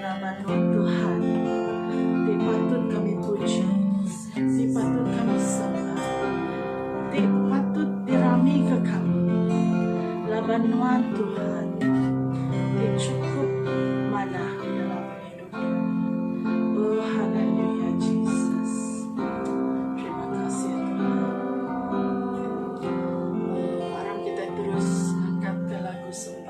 Nama nuan Tuhan ti patut kami puji, ti patut kami sembah, ti patut diramika kami laban nuan Tuhan ti chukup manah dalam pengidup kami. Oh haleluya Jesus. Terima kasih Tuhan. Mari kita terus angkatka lagu sembah.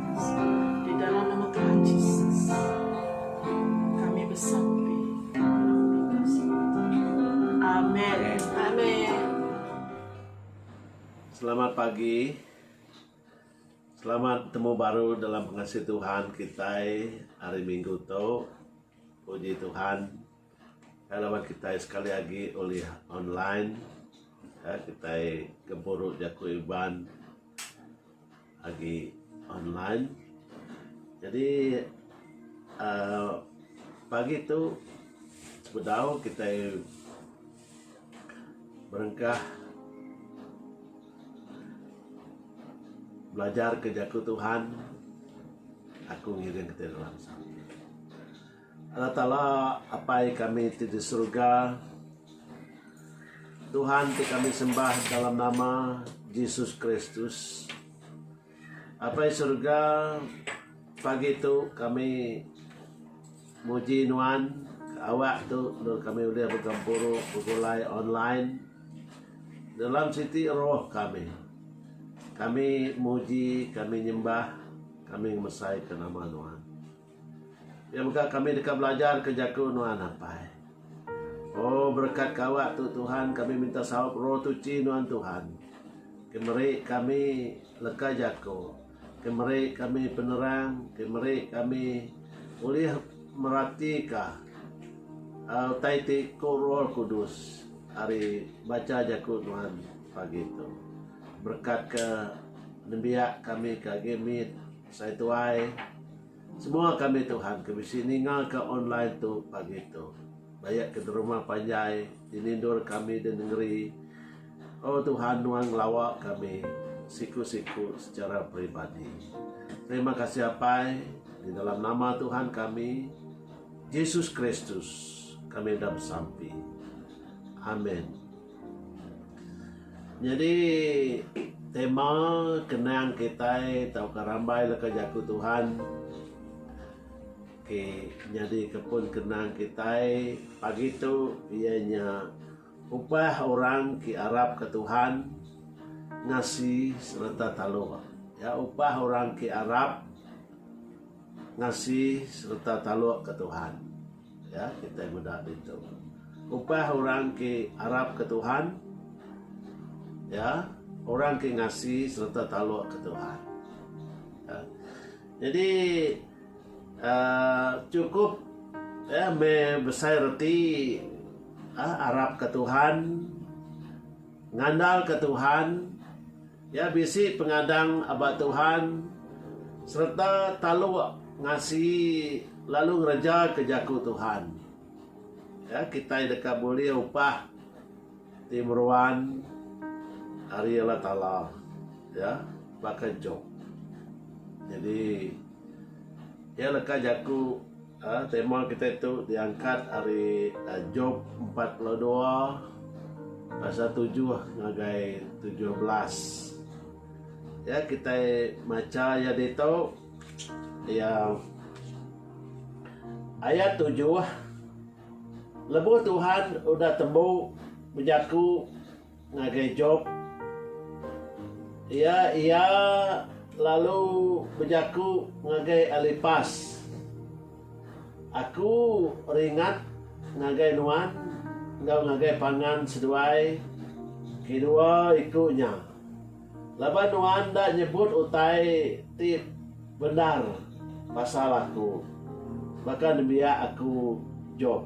Di dalam nama Tuhan Jesus kami besampi. Amen. Amen. Selamat pagi. Selamat temu baru dalam pengasih Tuhan kita hari Minggu tu. Puji Tuhan. Halaman kita sekali lagi oleh online. Ya, kita gempuru jaku Iban agi online jadi aaa pagi tu sebedau kitai berengkah belajar ke jaku Tuhan aku ngiring kitai dalam sampel. Allah Taala Apai kami ti di Surga, Tuhan ti kami sembah dalam nama Jesus Kristus. Apai Surga, pagi tu kami muji Nuan ke awak tu endur kami ulih begempuru begulai online dalam siti roh kami. Kami muji, kami nyembah, kami ngemesai ke nama Nuan. Iya mega kami deka belajar ke jaku nuan ampai. Oh berekat ke awak tu Tuhan kami minta saup roh tuchi nuan Tuhan ke meri kami leka jaku ke meri kami penerang ke meri kami ulih merati ka utai ti ku roh kudus ari bacha jaku nuan pagi tu. Berekat ke nembiak kami ke agi mit. Sai tuai. Semua kami Tuhan ke bisi ninga ka online tu pagi tu. Bayak ke derumah panjai di nindur kami di nengeri. Oh Tuhan nuan ngelawa kami siku siku secara peribadi. Terima kasih apai di dalam nama Tuhan kami Jesus Kristus kami enda besampi. Amen. Nyadi tema kenang kitai tauka rambai leka jaku Tuhan ti nyadika pun kenang kitai pagi tu iya nya upah orang ti arapka Tuhan ngasi sereta taluk. Iya upah orang ti arap ngasi sereta talukka Tuhan. Ya, kitai ngudah ditu. Upah orang ke arapka Tuhan, ya, orang ke ngasi sereta talukka Tuhan. Ya. Nyadi aaa chukup ya meh besai reti aaa arapka Tuhan. Ngandalka Tuhan, iya bisi pengadang ba Tuhan sereta taluk ngasi lalu ngerejaka jaku Tuhan. Ya, kitai deka bulih upah ti meruan ari Allah Taala. Ya, baka Jop. Jadi, iya leka jaku. Tema kitai tu diangkat ari Job empat puluh dua pasal tujuh ngagai tujuh belas. Ya kitai macha iya ditu iya ayat tujuh lebuh Tuhan udah tembu bejaku Ngagai Job, iya iya lalu bejaku ngagai Elipas, Aku ringat ngagai nuan enggau ngagai pangan seduai kedua iku nya. Laban nuan enda nyebut utai ti bendar pasal aku, baka nembiak aku Job.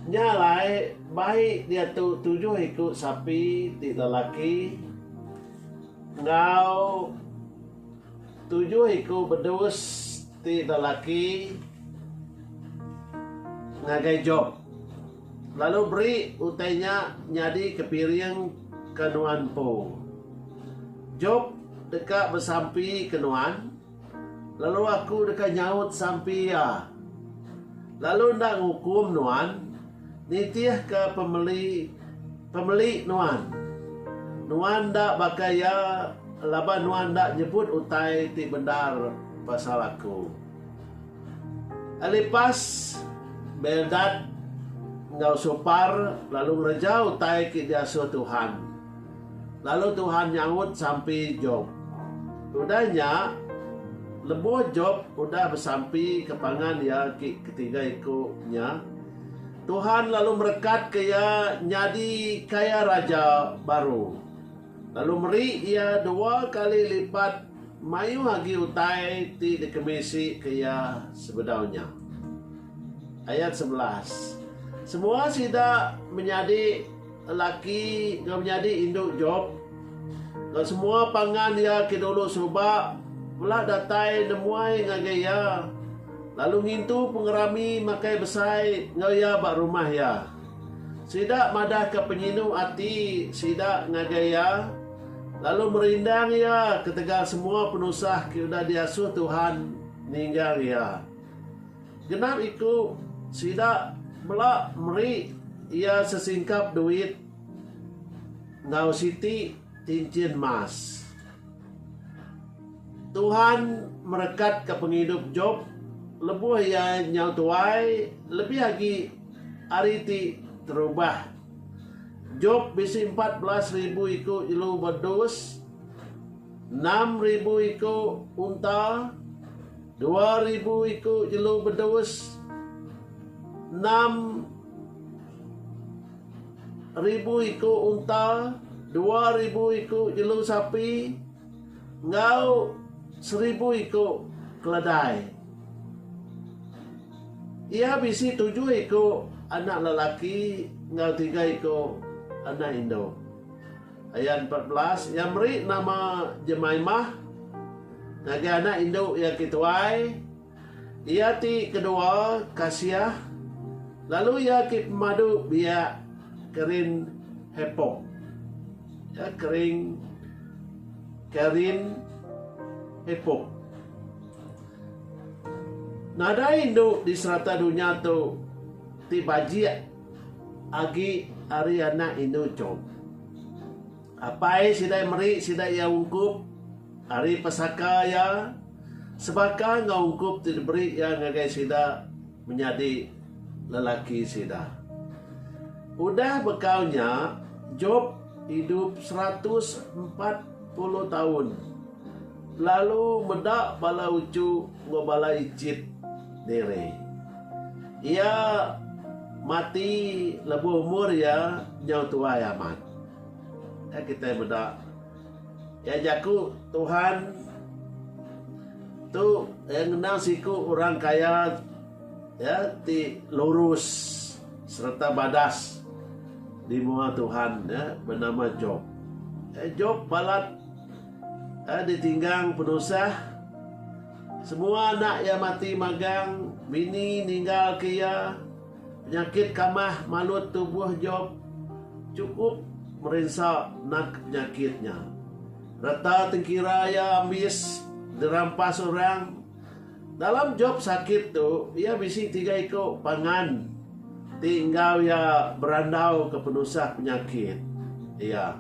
Nya alai, bai diatu tujuh iku sapi ti lelaki enggau tujuh iku bedus ti lelaki ngagai Job. Lalu beri utai nya nyadi ke piring ke nuan empu. Job deka besampi ke nuan, lalu Aku deka nyaut sampi iya, lalu enda ngukum nuan nitihka pemeli pemeli nuan. Nuan enda baka iya laban nuan enda nyebut utai ti bendar pasal Aku. Elipas, Bildad, enggau Sopar lalu ngereja utai ke diasuh Tuhan, lalu Tuhan nyaut sampi Jop. Udah nya, lebuh Jop udah besampi ke pangan iya ke ketiga iku nya, Tuhan lalu merekatka iya nyadi kaya raja baru. lalu meri iya dua kali lipat mayuh agi utai ti dikemisika iya sebedau nya. Ayat sebelas, Semua sida menyadi lelaki enggau menyadi indu Job, enggau semua pangan iya ke dulu suba mela datai nemuai ngagai iya, lalu ngintu pengerami makai besai enggau iya ba rumah iya. Sida madahka penyinu ati sida ngagai iya, lalu merindang iya ketegal semua penusah ke udah diasuh Tuhan ninggang iya. Genap iku sida mela meri iya sesingkap duit enggau siti. Cincin Mas. Tuhan merekatka pengidup Jop lebuh iya nyau tuai lebih agi ari ti terubah. Jop bisi empat belas ribu iku jelu ba dus, enam ribu iku unta, dua ribu iku jelu bedus, enam. ribu iku unta, dua ribu iku jelu sapi, enggau seribu iku keledai. Iya bisi tujuh iku anak lelaki enggau tiga iku anak indu. Ayat empat belas, Iya meri nama Jemaimah ngagai anak indu iya ke tuai, Iya ti kedua kasiah, lalu iya ti pemadu biak kerin hepong. Ya kering kerin hepong. Nadai indu di serata dunya tu ti bajik agi ari anak indu chom. Apai sida meri sida iya ungkup ari pesaka iya sebaka enggau ungkup ti diberi iya ngagai sida menyadi lelaki sida. Udah bekau nya, Jop idup seratus empat puluh taun, lalu meda bala uchu enggau bala icit diri. Iya mati lebuh umur iya nyau tuai amat. Meh kitai meda iya jaku Tuhan tu iya ngenang siku orang kaya iya ti lurus sereta badas di mua Tuhan iya benama Job. Iya Job balat iya ditinggang penusah semua anak iya mati magang bini ninggal ke iya. Penyakit kamah malut tubuh Job chukup merinsa naka penyakit nya. Reta tengkira iya ambis dirampas orang. Dalam Job sakit tu, iya bisi tiga iku pangan ti enggau iya berandauka penusah penyakit iya.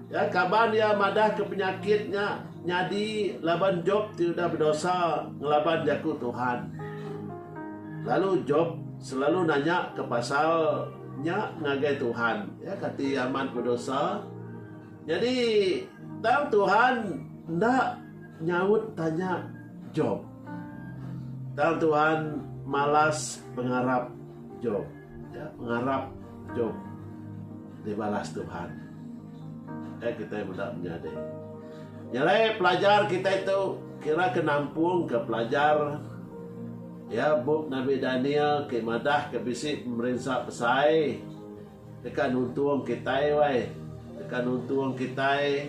Iya kaban iya madahka penyakit nya nyadi laban Job ti udah bedosa ngelaban Jaku Tuhan. Lalu Job selalu nanyaka pasal nya ngagai Tuhan. Iya kati iya amat bedosa. Nyadi, tang Tuhan enda nyaut tanya Job. Tang Tuhan malas pengarap Job. Nya pengarap idup dibalas Tuhan. Ai kitai meda menyadi. Nya alai pelajar kitai tu kira ke nampungka pelajar ya bup Nabi Daniel ke madah ke bisi pemerinsa besai deka nuntung kitai wai. Deka nuntung kitai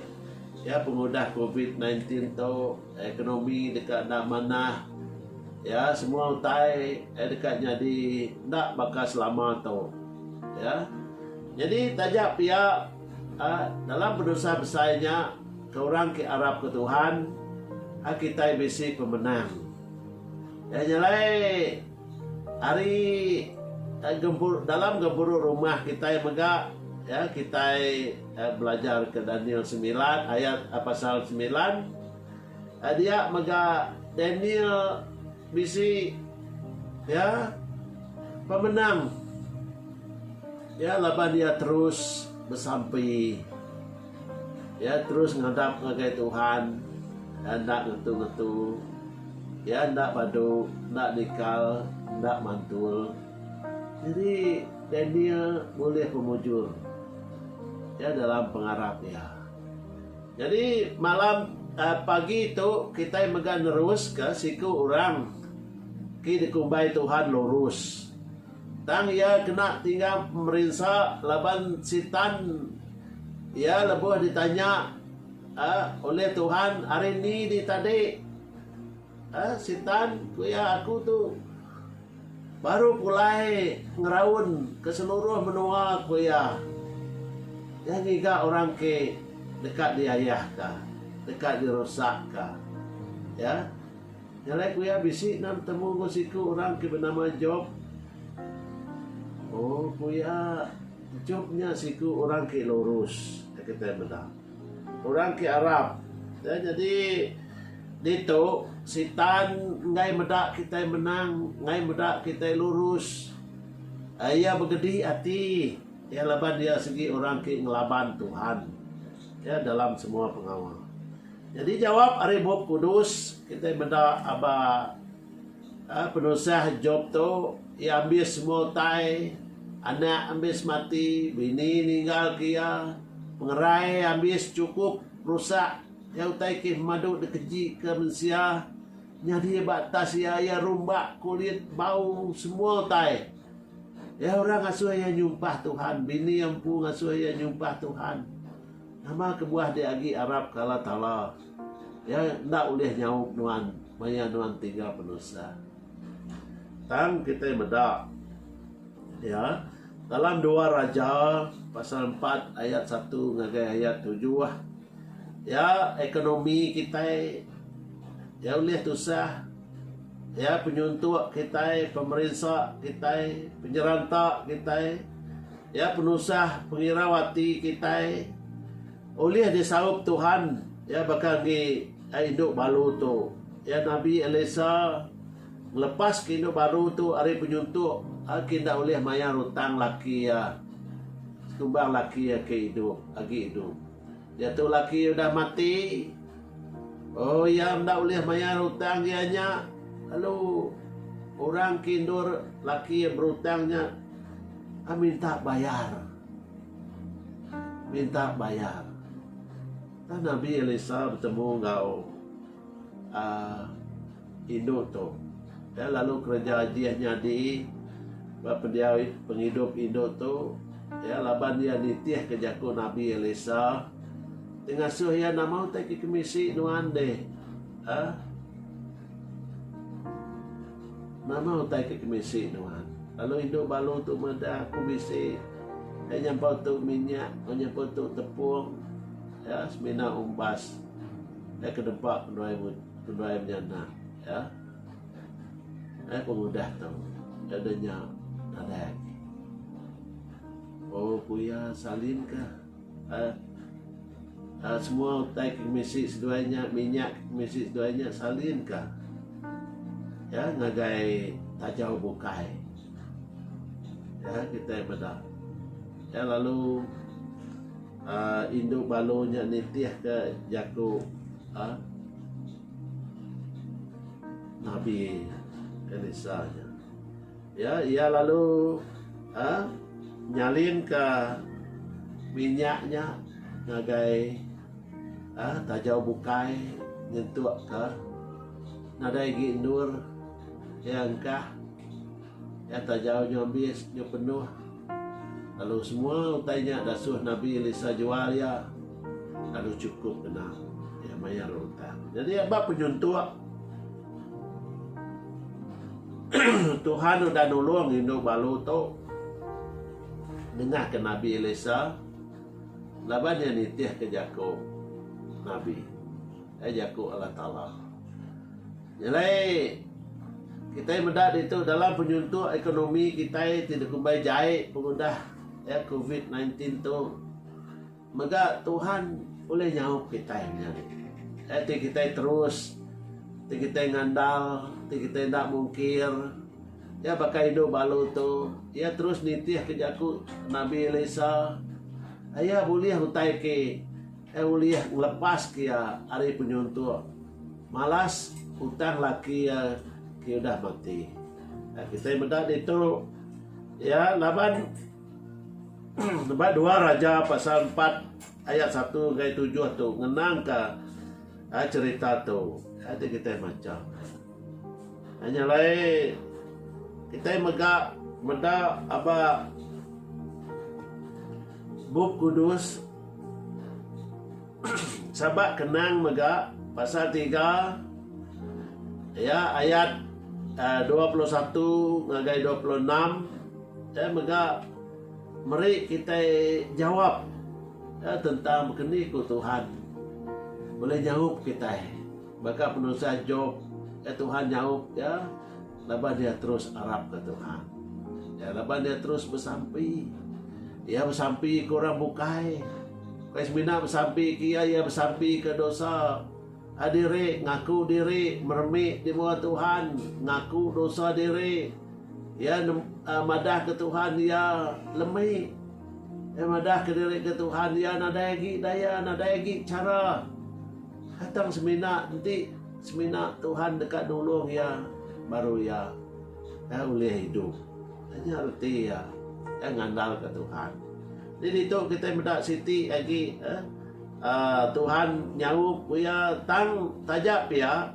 ya pengudah covid nineteen tu. Ekonomi deka enda manah. Ya, semua utai deka nyadi enda baka selama tu. Ya. Nyadi taja pia dalam penusah besai nya ke orang ke arapka Tuhan, kitai bisi pemenang. Iya nya alai ari dalam gempuru rumah kitai mega kitai Belajar ke Daniel semilan ayat pasal semilan dia mega Daniel bisi ya pemenang ya laban dia terus besampi ya terus ngadap ngagai Tuhan ya enda ngetu-ngetu ya enda badu enda nikal enda mantul jadi Daniel bulih pemujur. Iya dalam pengarap iya. Jadi malam uh, pagi tu kita mega neruska siku orang ki dikumbai Tuhan lurus. Tang iya kena tinggal merinsa laban sitan iya lebuh ditanya uh, oleh Tuhan hari ni di tadi. Uh, sitan ku iya aku tu Baru pulai ngeraun ke seluruh menua, ku iya. Nya ngiga orang ke deka diayahka, deka dirusakka. Ya. Nya alai ku iya bisi enda betemu enggau siku orang ke benama Jop. Oh, ku iya, Jop nya siku orang ke lurus, iya kitai meda. Orang ke arap. Nah nyadi ditu Sitan enggai meda kitai menang, enggai meda kitai lurus. Iya begedi ati iya laban iya sigi orang ke ngelaban Tuhan ya dalam semua pengawa. Nyadi jawap ari Bup Kudus kitai meda aba Penusah Jop tu, iya ambis semua utai, anak ambis mati, bini ninggalka iya, pengerai ambis chukup rusak, iya utai ke pemadu dikejika mensia nyadi ba atas iya, iya rumba kulit, bau, semua utai. Iya orang ngasuh iya nyumpah Tuhan, bini iya empu ngasuh iya nyumpah Tuhan. Nama kebuah dia agi arapka Allah Taala? Iya enda ulih nyaup nuan maya nuan ti enggau penusah. Tang kitai meda iya dalam dua Raja pasal empat ayat satu ngagai ayat tujuh iya ekonomi kitai iya ulih tusah iya penyuntok kitai pemerinsa kitai penyeranta kitai iya penusah pengirau ati kitai. Ulih disaup Tuhan, iya baka agi ai indu baru tu. Iya nabi Elisa ngelepaska indu baru tu ari penyuntuk agi enda ulih mayar hutang laki iya sekumbang laki iya ke idup agi idup. Diatu laki iya udah mati. Oh, iya enda ulih mayar hutang iya nya, lalu orang ke endur laki iya berhutang nya minta bayar. Minta bayar. Tang Nabi Elisa betemu enggau uhh indu tu. Iya lalu kereja ajih nyadi. Ba pendiau pengidup indu tu, iya laban iya nitihka jaku Nabi Elisa ti ngasuh iya nama utai ke kemisi nuan deh. Uhh. Nama utai ke kemisi nuan? Lalu indu balu tu meda, Aku bisi iya nyampau tu minyak, iya nyampau tu tepung, iya semina umbas iya ke deba penduai penduai menyana iya. Ai pengudah tu iya udah nya nadai agi. Oh ku iya salin ka. Semua utai ke misi seduai nya minyak ke misi seduai nya salin ka iya ngagai tajau bukai iya kitai meda iya lalu uhh indu balu nya nitih ka jaku uhh nabi elisa nya. Ya, iya lalu nyalinka minyak nya ngagai tajau bukai nyentukka nadai agi endur iya engkah. Ya, tajau nya ambis nya penuh lalu semua utai nya dasuh Nabi Elisa jual iya lalu chukup ngena iya mayar utang. Jadi aba penyuntuk. Tuhan udah nulung indu balu tu nengahka Nabi Elisa laban iya nitihka jaku nabi, ai jaku Allah Taala. Nyelai kitai meda ditu dalam penyuntok ekonomi kitai ti dikumbai jai pengudah covid nineteen tu. Mega Tuhan ulih nyaup kitai menyadi. Ai ti kitai terus, ti kitai ngandal, ti kitai enda mungkir. Iya baka indu balu tu, iya terus nitihka jaku nabi Elisa. Ai iya bulih utai ke, iya ulih ngelepaska iya ari penyuntok malas utang laki iya ke udah mati. Ai kitai meda ditu, iya laban. Nebak dua Raja pasal empat ayat satu enggai tujuh tu ngenangka cherita tu. Enti kitai macha nya alai kitai mega meda aba Bup Kudus saba kenang mega pasal tiga iya ayat dua puluh satu ngagai dua puluh enam. Kitai mega meri kitai jawap tentang bekeni ku Tuhan ulih nyaup kitai. Baka penusah Job, iya Tuhan nyaup iya laban iya terus arapka Tuhan. Iya laban iya terus besampi. Iya besampi ke orang bukai. Bukai semina besampi ke iya, iya besampi ke dosa. Diri, ngaku diri, meremi di mua Tuhan, ngaku dosa diri, iya nem aa madah ke Tuhan iya lemi, iya madah ke diri ke Tuhan iya nadai agi daya nadai agi chara ha tang semina enti semina Tuhan deka nulung iya baru iya aa ulih idup. Aa nya reti iya, iya ngandalka Tuhan. Di ditu kitai meda siti agi aa Tuhan nyaup ku iya, tang taja pia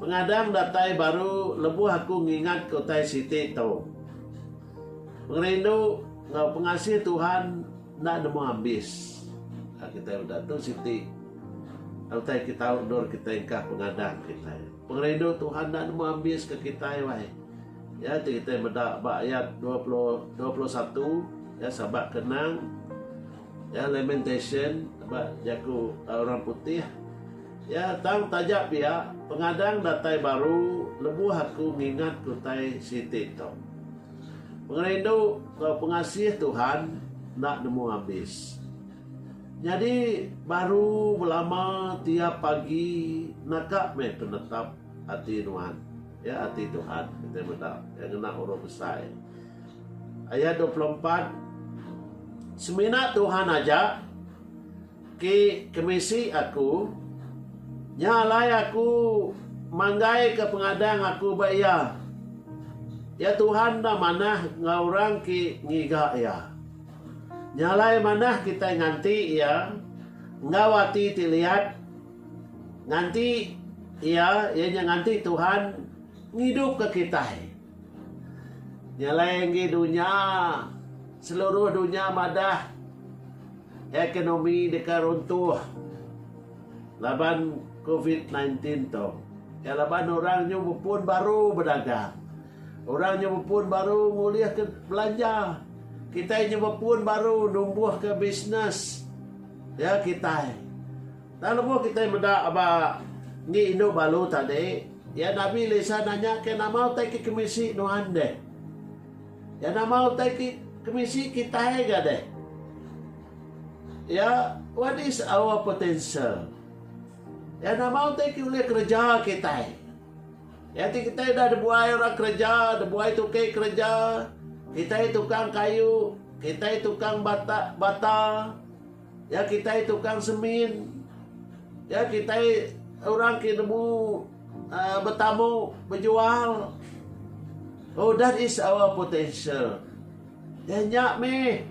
pengadang datai baru lebuh aku ngingatka utai siti tu. Pengerindu enggau pengasih Tuhan enda nemu abis. Kitai meda tu siti utai ke tau endur kitai engkah pengadang kitai. Pengerindu Tuhan enda nemu abis ke kitai wai. Iya ti kitai meda ba ayat dua puluh, dua puluh satu, iya sabak ke nang. Iya lamentation ba jaku orang putih. Iya tang taja pia pengadang datai baru lebuh aku ngingat kutai siti tu. Pengerindu tau pengasih Tuhan enda nemu abis. Nyadi baru belama tiap pagi naka meh penetap ati nuan, iya ati Tuhan kitai meda iya ngena urung besai. Ayat dua puluh empat, Semina Tuhan aja ke kemisi aku, nya alai aku manggaika pengadang aku ba Iya. Ya Tuhan enda manah enggau orang ke ngiga Iya. Nya alai manah kitai nganti Iya enggau ati ti liat. Nganti Iya, iya nya nganti Tuhan, ngidupka kitai. Nya alai enggi dunya, seluruh dunya madah ekonomi deka runtuh laban covid sembilan belas tu. Iya laban orang nyu bepun baru bedagang. Orang nyu bepun baru ngulihka belanja. Kitai nyu bepun baru numbuhka bisnes iya kitai. Tang lebuh kitai meda ba enggi indu balu tadi, iya Nabi Elisa nanya ke nama utai ke kemisi nuan deh. Iya nama utai ke kemisi kitai ga deh. Iya, What is our potential? Iya nama utai ke ulih kereja kitai? Iya ti kitai udah dibuai orang kereja, dibuai tukei kereja, kitai tukang kayu, kitai tukang bata, bata. Ya kitai tukang semin. Ya kitai orang ke nemu uh, betamu bejual. Oh that is our potential. Ya nya meh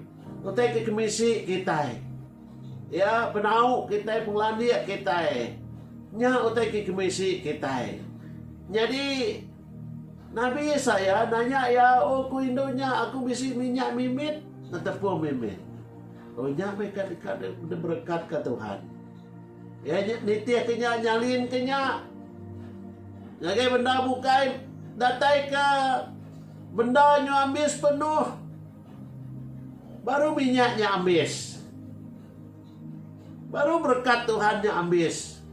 utai ke kemisi kitai. Ya penau kitai pengelandik kitai. Nya utai ke kemisi kitai. Nyadi Nabi Yesaya nanya ya oh ku indu nya aku bisi minyak mimit netepu mimit. Oh nya meh ka deka diberekatka Tuhan. Iya nya nitihka nya, nyalinka nya. Ngagai bendar bukai dataika bendar nyu ambis penuh. Baru minyak nya ambis. Baru berekat Tuhan nya ambis.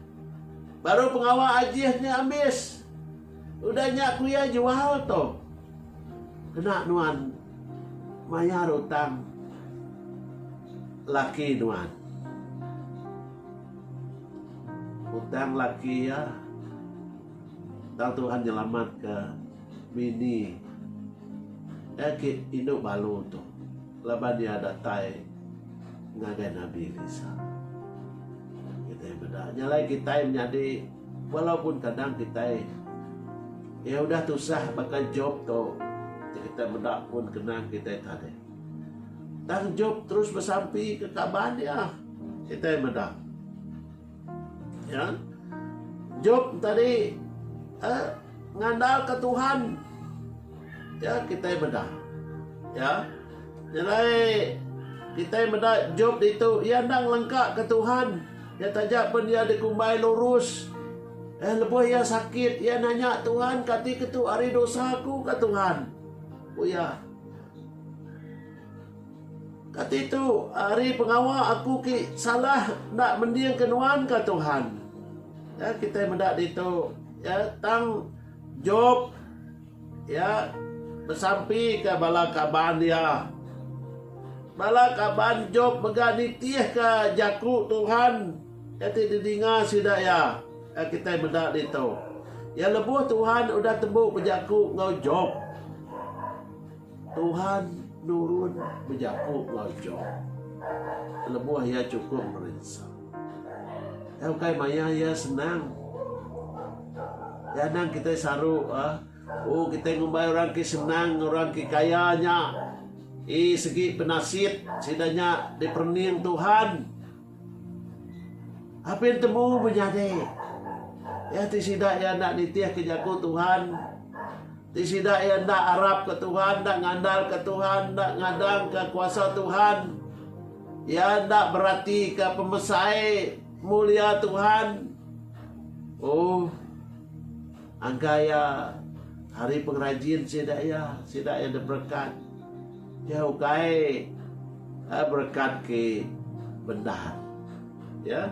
Baru pengawa ajih nya ambis. Udah nya kuya jual tu. Kena nuan Mayar utang laki nuan. Utang laki iya tau Tuhan nyelamatka bini agi indu balu tu laban iya datai ngagai Nabi Elisa. Kitai meda nya alai kitai menyadi. Walaupun kadang kitai iya udah tusah baka Jop tu, ti kitai meda pun kena kitai tadi. Tang Jop terus besampika kaban iya. Kitai meda iya. Jop tadi, eh, ngandalka Tuhan. Ya kitai meda. Ya. Nyelai kitai meda Job ditu iya enda ngelengkaka Tuhan. Iya taja pen iya dikumbai lurus. Eh lebuh iya sakit iya nanya Tuhan kati ke tu ari dosa aku ka Tuhan. Ku iya. Kati tu ari pengawa aku ki salah enda mendingka nuan ka Tuhan. Ya kitai meda ditu. Ya tang Job, iya besampika bala kaban iya. Bala kaban Job mega nitihka jaku Tuhan iya ti didinga sida iya. Ai kitai meda ditu, iya lebuh Tuhan udah tembu bejaku enggau Job. Tuhan nurun bejaku enggau Job lebuh iya chukup merinsa. Iya ukai mayah iya senang. Iya anang kitai saru, Oh, kitai ngumbai orang ke senang, orang ke kaya nya. Ii, sigi penasit sida nya diperening Tuhan. Apin tembu menyadi. Iya ti sida iya enda nitihka jaku Tuhan, ti sida iya enda arapka Tuhan, enda ngandalka Tuhan, enda ngadangka kuasa Tuhan. Iya enda beratika pemesai mulia Tuhan. Oh. Angka iya ari pengerajin sida iya, sida iya diberekat. Iya ukai eh, berekat ke bendar. Ya.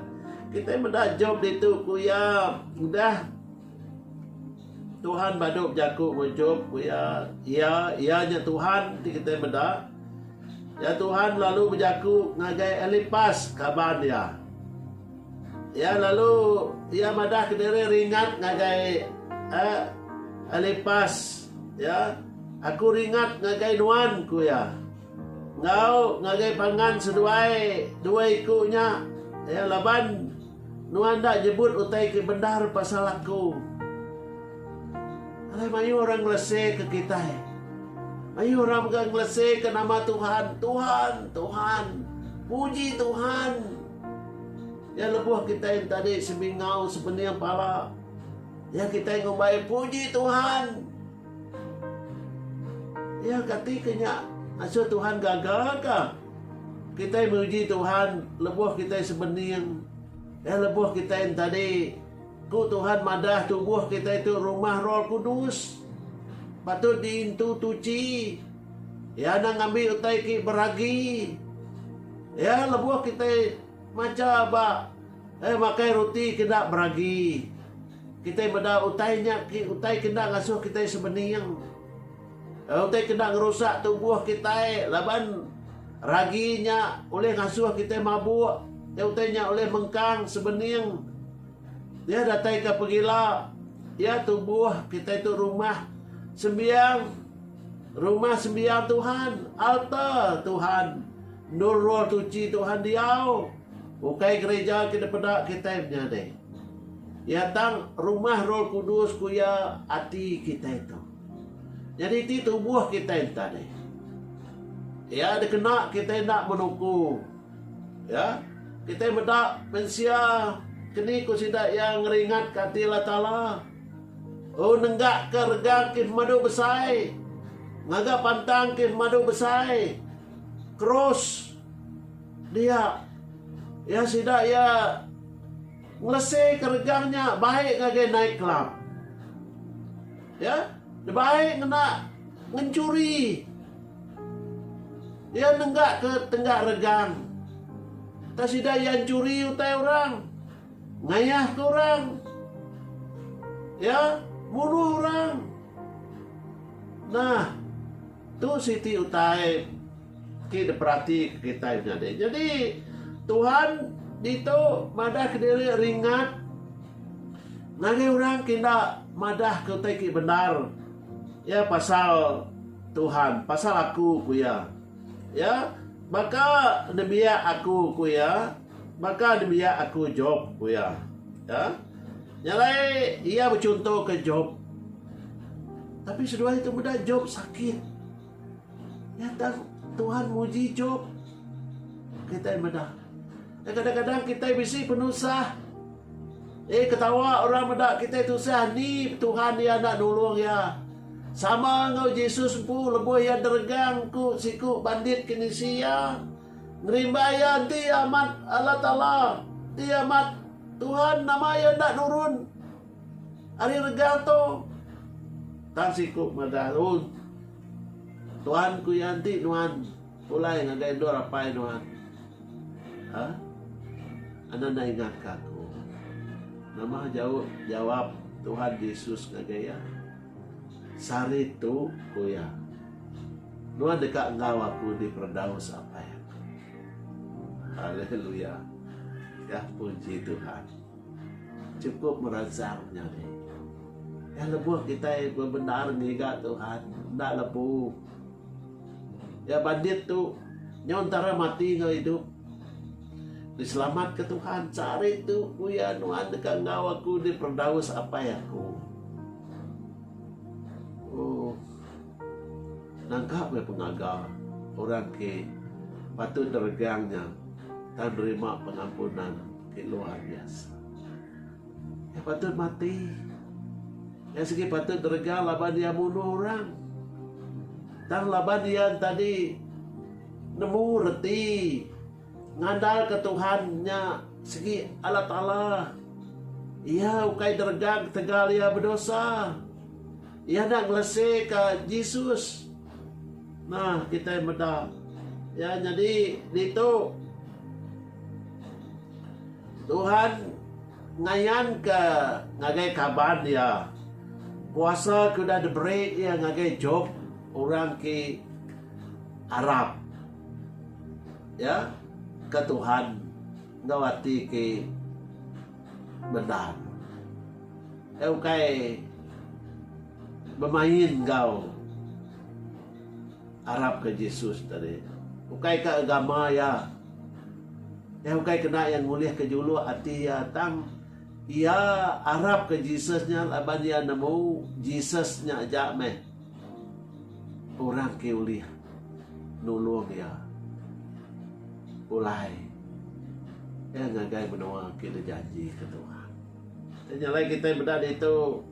Kita meda Job ditu ku iya udah Tuhan badu bejaku ku Job ku iya, iya iya nya Tuhan ti kita meda. Ya Tuhan lalu bejaku ngagai Elipas kaban iya. Iya lalu iya madah ke diri ringat ngagai Elipas, ya, Aku ringat ngagai nuan, ku iya, enggau ngagai pangan seduai dua iku nya, ya, laban nuan enda nyebut utai ti bendar pasal aku. Alai mayuh orang ngeleseka kitai. Mayuh orang mega ngeleseka nama Tuhan, Tuhan, Tuhan, muji Tuhan. Iya lebuh kitai enti tadi sebingau sebening pala iya kitai ngumbai puji Tuhan. Iya kati ke nya ngasuh Tuhan gaga ka? Kitai muji Tuhan lebuh kitai sebening. Iya lebuh kitai enti tadi ku Tuhan madah tubuh kitai tu rumah Roh Kudus patut diintu tuchi. Iya enda ngambi utai ki beragi. Iya lebuh kitai macha ba eh makai ruti ke enda beragi, kitai meda utai nya ki utai ke enda ngasuh kitai sebening. Utai ke enda ngerusak tubuh kitai laban ragi nya ulih ngasuh kitai mabuk, tei utai nya ulih mengkang sebening. Iya dataika pengila, iya tubuh kitai tu rumah sembiang. Rumah Sembiang Tuhan, alta, Tuhan endur Roh Suci Tuhan diau. Ukai gerija ke dipeda kitai menyadi. Iya tang rumah Roh Kudus ku iya ati kitai tu. Nyadi ti tubuh kitai enti tadi. Iya dikena kitai enda menuku. Ya, kitai meda mensia keni ku sida iya ngeringatka ati Allah Taala. Oh nenggakka rega kin madu besai, ngaga pantang kin madu besai, krus, dia. Iya sida iya ngeleseka rega nya baik ngagai night club. Iya nebaik ngena ngenchuri. Iya nenggakka tenggak rega. Tang sida iya nchuri utai orang. Ngayah ke orang. Ya, munuh orang. Nah, tu siti utai ti diperatika kitai menyadi. Nyadi, Tuhan ditu madahka diri ringat ngagai orang ke enda madahka utai ti bendar. Ya, pasal Tuhan, pasal aku, ku iya. Ya, baka nembiak aku, ku iya. Baka nembiak aku Job, ku iya. Ya. Nya alai, iya bechuntoka Job. Tapi seduai tu meda Job sakit. Nya tang Tuhan muji Job. Kitai meda. Eh, kadang-kadang kitai bisi penusah. Eh, ketawa orang meda kitai tusah. Ni Tuhan iya enda nulung iya. Sama enggau Jesus empu, lebuh iya deregang ku siku bandit ke ngisi iya. Ngerimbai iya enti iya amat Allah Taala ti amat Tuhan nama iya enda nurun ari rega tu. Tan siku madah oh Tuhan ku iya enti nuan pulai ngagai endur apai nuan. Ha? Anda enda ingat ka aku. Nama jauh jawab Tuhan Jesus ngagai iya? Sehari tu, ku iya, nuan deka enggau aku di Perdaus apai aku. Haleluya! Ga puji Tuhan. Chukup meransang nya dih. Ga lebuh kitai bebendar ngiga Tuhan, enda lebu. Ga bandit tu, nyau entara mati enggau idup. Diselamatka Tuhan. Ca ari tu uya nuan deka enggau aku di Perdaus Apai aku. Oh. Nangka meh pengaga orang ke patut diregang nya tang nerima pengampunan ke luar biasa. Iya patut mati. Iya sigi patut diregang laban iya munuh orang. Tang laban iya tadi Nemu reti ngandalka Tuhan nya sigi Allah Taala. Iya ukai deregang ketegal iya bedosa. Iya enda ngeleseka Jesus. Nah, kitai meda. Ya, nyadi ditu Tuhan ngayanka ngagai kaban iya kuasa ke udah diberi iya ngagai Job, orang ke Arap ya ke Tuhan enggau ati ti bendar. Ke ukai bemain enggau arap ke Jesus tadi. Ukai ke agama iya. Iya ukai kena iya ngulih ke juluk ati iya tang iya arap ke Jesus nya laban iya nemu Jesus nya aja meh. Orang ke ulih nulung iya pulai iya ngagai menua ke dijanjika Tuhan. Ti nya alai kitai meda ditu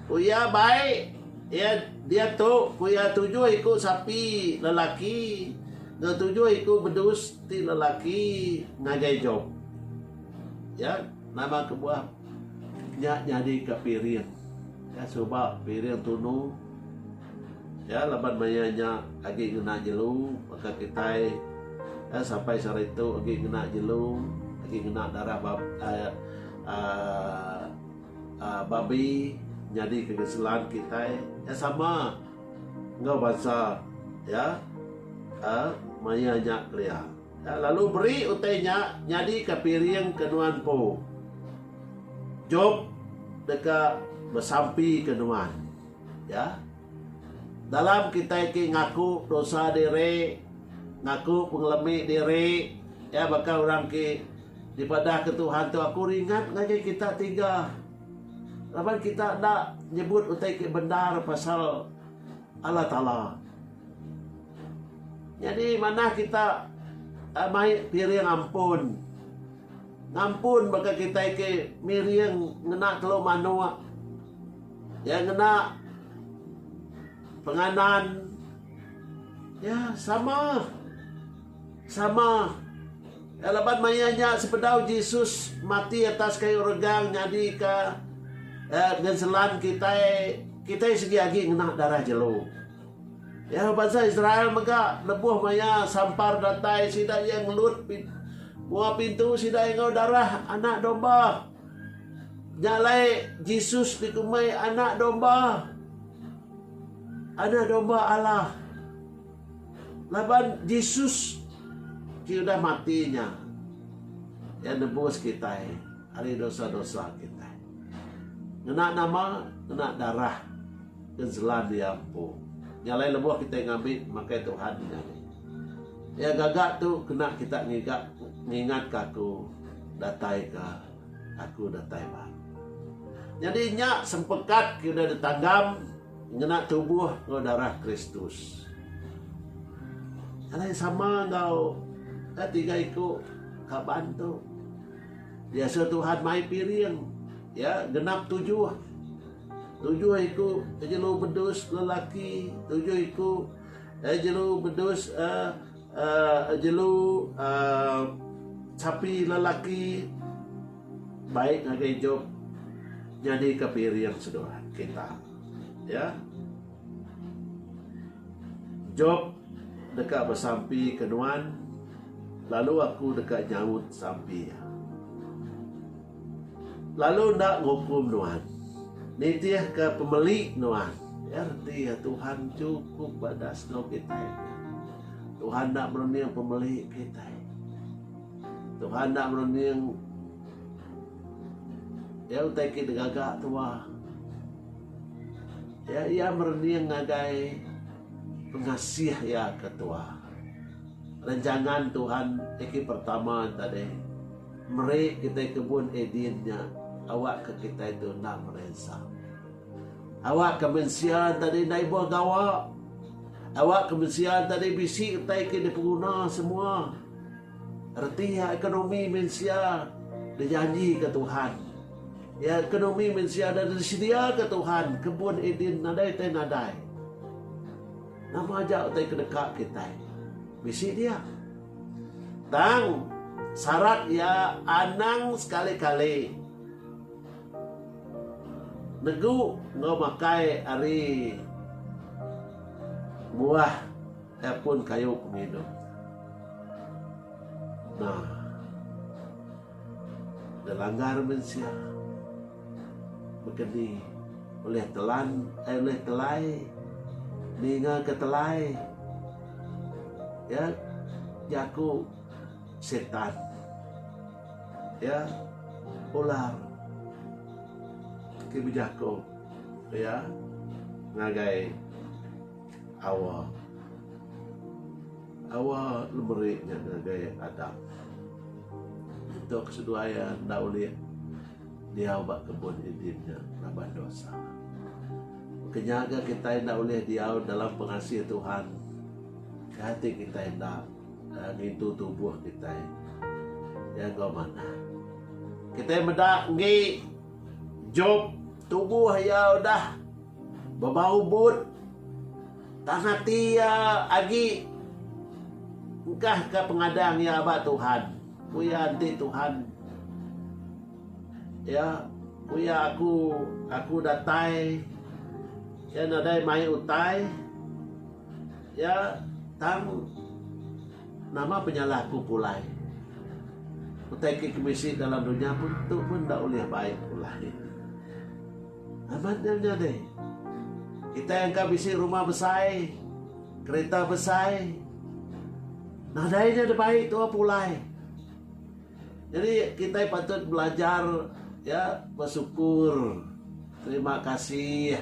ku iya bai iya diatu ku iya tujuh iku sapi lelaki enggau tujuh iku bedus ti lelaki ngagai Job. Iya nama kebuah nya nyadika piring. Nya suba piring tunu. Ya laban maya nya agi ngena jelu baka kitai ya sampai sehari tu agi ngena jelu agi ngena darah aaa babi nyadi ke geselan kitai ya sama enggau bansa ya aaa maya nya kelia. Enda lalu beri utai nya nyadika piring ke nuan empu. Job deka besampika nuan. Ya. Dalam kitai ke ngaku dosa diri, ngaku pengelemi diri, ya baka orang ke dipadahka Tuhan tu aku ringat ngagai kita tiga laban kita enda nyebut utai ke bendar pasal Allah Taala. Nyadi manah kita mai piring ampun. Ngampun baka kitai ke miring ngena telu manok iya ngena penganan iya sama sama iya laban maya nya sebedau Jesus mati atas kayu regang nyadi ka ngenselan kitai kitai sigi agi ngena darah jelu. Iya bansa Israel mega lebuh maya sampar datai sida iya ngelut mua pintu sida enggau darah Anak Domba. Nya alai Jesus dikumbai Anak Domba. Anak Domba Allah. Laban Jesus ti udah mati nya iya nebus kitai. ari dosa-dosa kitai. Ngena nama, ngena darah Genselan iya empu. Nya alai lebuh kitai ngambi makai Tuhan nya agi. Iya gaga tu kena kita ngiga ngingatka aku datai ka aku datai ba. Nyadi nya sempekat ke udah ditanggam ngena tubuh enggau darah Kristus. Alai sama enggau ka tiga iku kaban tu. Biasa Tuhan mai piring iya genap tujuh. Tujuh iku jelu bedus lelaki, tujuh iku eh, jelu bedus eh, eh, jelu eh, sapi lelaki baik ngagai Job nyadika piring seduai kita. Ya. Job deka besampi ke nuan, lalu aku deka nyaut sampi iya. Lalu enda ngukum nuan, nitihka pemeli nuan. Iya reti iya Tuhan chukup badas enggau kitai. Tuhan enda merening pemeli kitai. Tuhan enda merening iya utai ke digaga tuah. Ya iya merening ngagai pengasih iya ke tua. Renjangan Tuhan tiki pertama tadi meri kitai kebun Eden nya awakka kitai tu enda merensa. Awakka mensia tadi enda ibuh gawa. Awakka mensia tadi bisi utai ke dipenguna semua. Reti iya ekonomi mensia dijanjika Tuhan. Iya ekonomi mensia da disediaka Tuhan kebun Eden nadai tai nadai. Nama aja utai ke deka kitai bisi dia. Tang, sarat iya anang sekali-kali negu enggau makai ari buah. Telefon kayu pengidup. Nah. Dilanggar mensia. Bekeni ulih telan ai eh, ulih telai ninga ke telai. Ya jaku setan. Ya ular ti bejaku ya ngagai Awa. Awa lemeri nya ngagai adat. Ditu keseduai iya enda ulih diau ba kebun Eden nya laban dosa. Ke nyaga kitai enda ulih diau dalam pengasih Tuhan ke ati kitai enda ngintu tubuh kitai. Iya enggau manah. Kitai meda enggi Jop tubuh iya udah. Bebau but tang ati iya agi. Engkahka pengadang iya ba Tuhan. Ku iya, Enti Tuhan iya, ku iya, aku aku datai iya nadai mai utai iya tang nama penyalah aku pulai. Utai ke bisi dalam dunya pun tu pun enda ulih baik pulai. Amat nya menyadi. Kitai engka bisi rumah besai, kerita besai. Nadai nya da baik tuah pulai. Nyadi kitai patut belajar ya besukur, terima kasih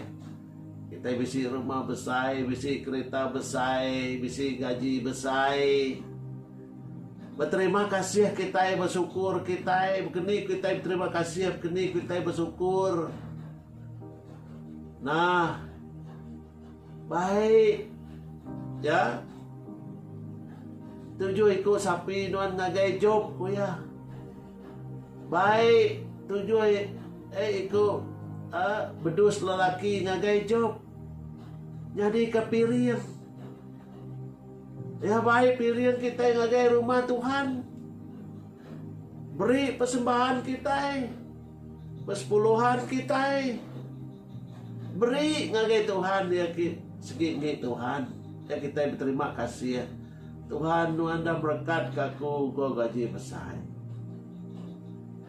kitai bisi rumah besai, bisi kerita besai, bisi gaji besai. Beterima kasih kitai besukur kitai bekeni kitai beterima kasih bekeni kitai besukur nah baik ya tujuh iku sapi nuan ngagai job ku iya baik tujuh eh iku eh bedus lelaki ngagai job nyadi ke piring Iya bai piring kitai ngagai rumah Tuhan. Beri persembahan kitai, persepuluhan kitai. Beri ngagai Tuhan iya ki segi enggi Tuhan. Iya kitai beterima kasih. Tuhan nuan enda merekat ka aku enggau gaji besai.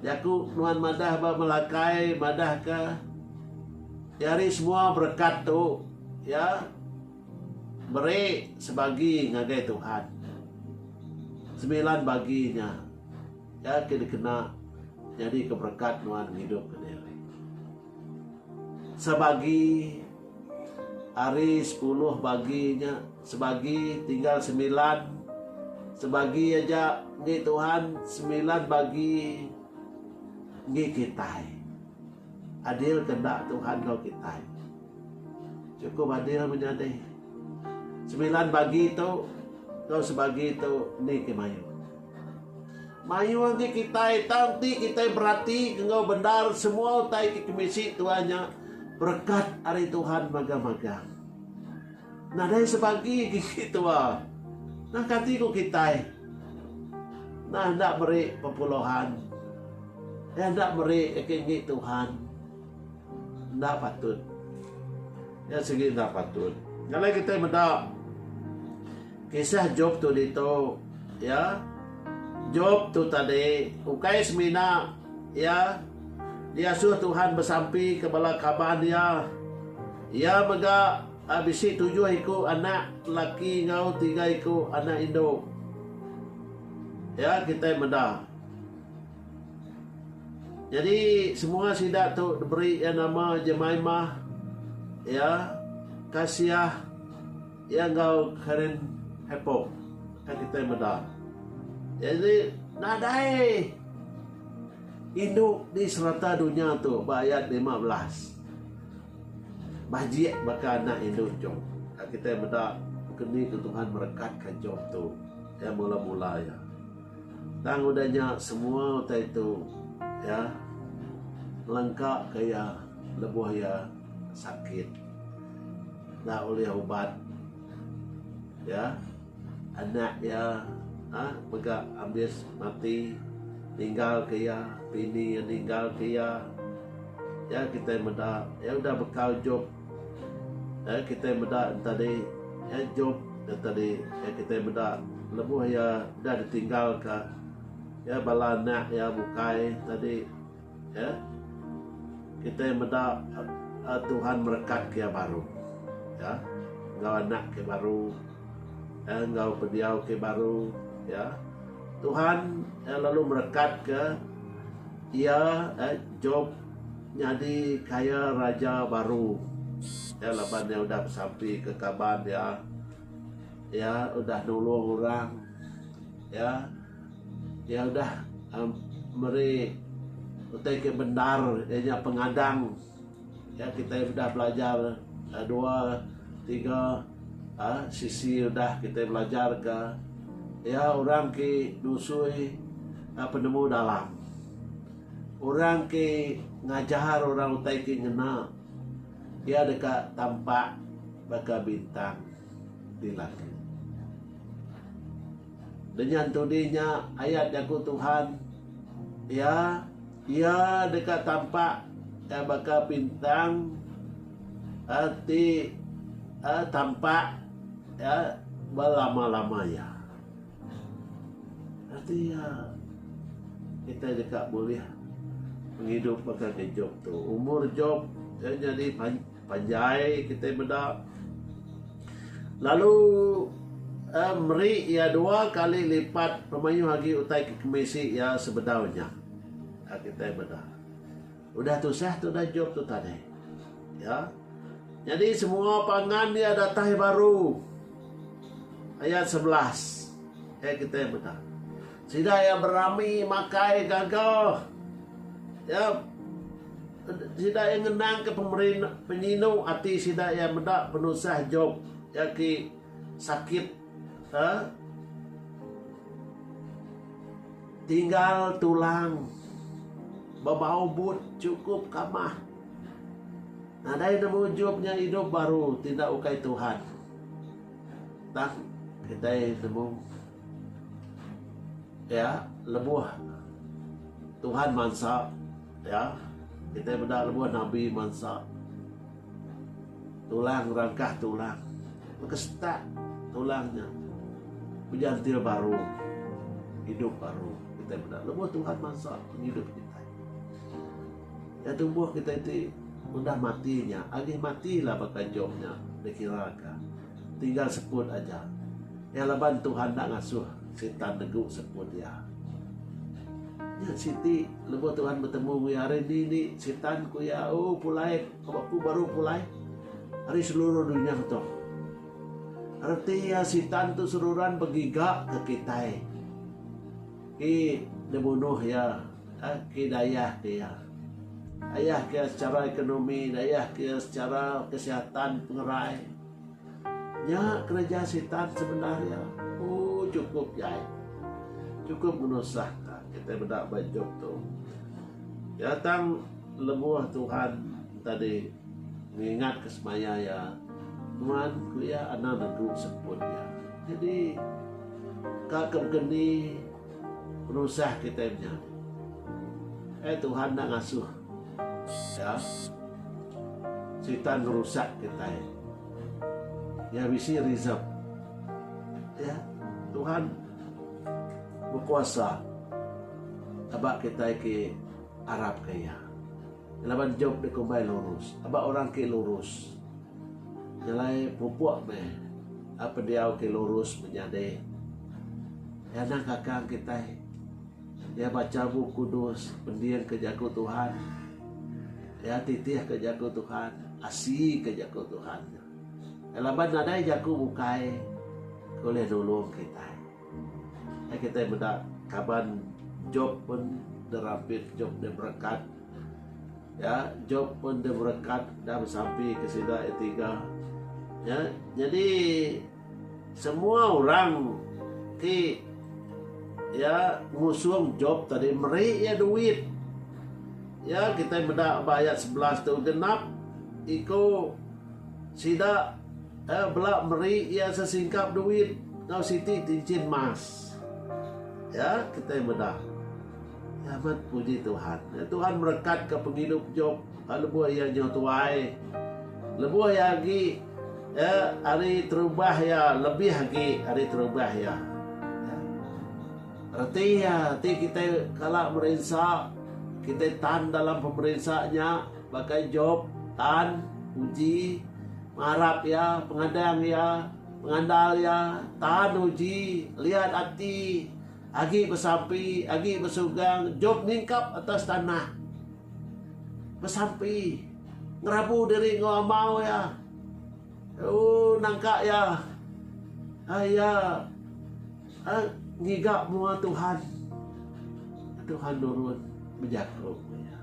Jaku nuan madah ba Malakai madah ka iya ari semua berekat tu. Iya. Meri sebagi ngagai Tuhan. Semilan bagi nya iya ke dikena nyadika berekat nuan ngidup ke diri. Sebagi ari sepuluh bagi nya sebagi tinggal semilan sebagi aja enggi Tuhan semilan bagi enggi kitai. Adil ke enda Tuhan enggau kitai? Chukup adil menya dih. Semilan bagi tu enggau sebagi tu endi ke mayuh? Mayuh agi kitai tang enti kitai berati enggau bendar semua utai ti kemisi tuai nya berekat ari Tuhan magang-magang. Nadai sebagi gigi tua nah kati ku kitai nah enda meri pepuluhan eh enda meri agi enggi Tuhan enda patut nya sigi enda patut nya alai kitai meda kisah Job tu ditu ya Job tu tadi ukai semina ya diasuh Tuhan besampi ke bala kaban iya. Iya mega bisi tujuh iku anak laki enggau tiga iku anak indu. Iya kitai meda. Nyadi semua sida tu diberi iya nama Jemaimah, iya, Kasiah, iya enggau Karen Hepok. Iya kitai meda. Nyadi nadai indu di serata dunya tu ba ayat lima belas. Majik baka anak indu Job, ka kitai meda ke ni ke Tuhan merekatka Job tu iya mula-mula iya. Tang udah nya semua utai tu iya ngelengkaka iya lebuh iya sakit enda ulih ubat iya. Anak iya a mega ambis mati ninggal ke iya pini iya ninggal ke iya iya kitai meda iya udah bekal jop iya kitai meda tadi iya jop iya tadi iya kitai meda lebuh iya udah ditinggal ka iya bala anak iya bukai tadi. Ya. Kitai meda Tuhan merekat ke baru. Ya. Enggau anak ke baru. Ya. Enggau pendiau ke baru. Ya. Tuhan ya, lalu merekat ke ia ya, Job nyadi kaya raja baru. Ya laban ia udah besampi ke kaban dia. Ya udah nulung orang. Ya. Iya udah meri utai ke bendar iya nya pengadang iya kitai udah belajar dua tiga aaa sisi udah kitai belajar ka iya orang ti nusui penemu dalam orang ti ngajar orang utai ti ngena iya deka tampak baka bintang di langit. Denyan tudi nya ayat jaku Tuhan, Iya, iya deka tampak ka baka pintang a ti a tampak a belama-lama iya. Arti iya, kitai deka bulih ngidup baka ngi Job tu. Umur Job nyadi panjang. Panjai kitai meda. Lalu eh meri iya dua kali lipat pemayuh agi utai ke kemisi iya sebedau nya. Ka kitai meda. Udah tusah tudah job tu tadi. Ya. Nyadi semua pangan iya datai baru. Ayat sebelas. Eh kitai meda. Sida iya berami makai gaga. Ya. Sida iya ngenangka penyinu ati sida iya meda penusah Job iya ke sakit tinggal tulang ba bau but chukup kamah. Nadai nemu Job nya idup baru ti enda ukai Tuhan. Tang kitai nemu. Ya, lebuh Tuhan mansa, ya, kitai meda lebuh nabi mansa tulang ngerangkah tulang. Baka setak tulang nya bejantil baru, idup baru. Kitai meda lebuh Tuhan mansa ngidup kitai. Ya, tubuh kitai ti ngundah mati nya, agih mati la baka Job nya dikiraka. Tinggal sekut aja iya laban Tuhan enda ngasuh Sitan negu sekut iya. Nya siti lebuh Tuhan betemu enggau iya hari indi indi Sitan ku iya O pulai ka ba ku baru pulai ari seluruh dunya tu. Reti iya Sitan tu seruran begiga ka kitai ti dibunuh iya. Agi dayah dia. Dayah ke sechara ekonomi, dayah ke sechara kesihatan pengerai. Nya kereja sitan sebenar iya. Oh chukup ja ai. Chukup ngenusah ka kitai meda ba idup tu. Iya tang lebuh Tuhan tadi ngingat ke semaya iya, nuan ku iya anang negu seput iya. Jadi ka ke baka ni. Penusah kitai menya. Eh Tuhan enda ngasuh. Ya. Sitan ngerusak kitai. Ya bisi reserve. Ya. Tuhan berkuasa. Aba kitai ke arap ke iya. Laban Job dikumbai lurus. Aba orang ke lurus. Nyelai pupuk meh. Apa diau ke lurus menyadi. Nyana kakang kitai iya bacha Bup Kudus, pendingka jaku Tuhan, iya titihka jaku Tuhan, asika jaku Tuhan. Laban nadai jaku bukai ke ulih nulung kitai. Ai kitai meda kaban Job pun dirampit, Job diberekat. Ya, Job pun diberekat dah besampi ke sida iya tiga. Ya, jadi Semua orang ti iya ngusung Job tadi meri iya duit. Ya kitai meda ba ayat sebelas tu genap iku sida eh bela meri iya sesingkap duit enggau siti tinchin mas. Ya kitai meda. Amat puji Tuhan. Tuhan merekatka pengidup Job. Ba lebuh iya nyau tuai, lebuh iya agi ya ari terubah iya lebih agi ari terubah iya. Ya. Reti iya ti kitai kala merinsa, kitai tan dalam pemerinsa nya bagai Job, tan, uji, marap iya, pengadang iya, pengandal iya, tan uji, liat ati, Agi besampi, agi besugang jom nyingkap atas tanah. Besampi, ngerabu diri enggau amau iya. Uu nangka iya. Ai iya ai ngiga mua Tuhan. Tuhan nurun bejaku enggau iya.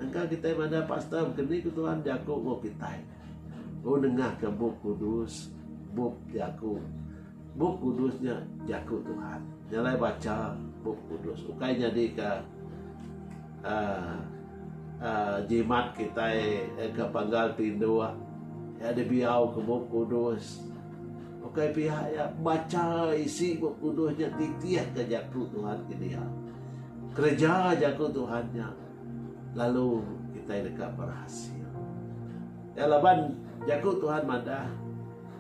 Engka kitai madah pastor bekeni ku Tuhan bejaku enggau kitai. Uu nengahka bup kudus, bup jaku. Bup Kudus nya Jaku Tuhan. Jalai bacha Bup Kudus ukai nyadika jimat kitai ke panggal tinduk iya dibiauka Bup Kudus. Ukai pia iya, bacha isi Bup Kudus nya nitihka Jaku Tuhan kidia. Kereja Jaku Tuhan nya lalu kitai deka berhasil. Iya laban Jaku Tuhan madah.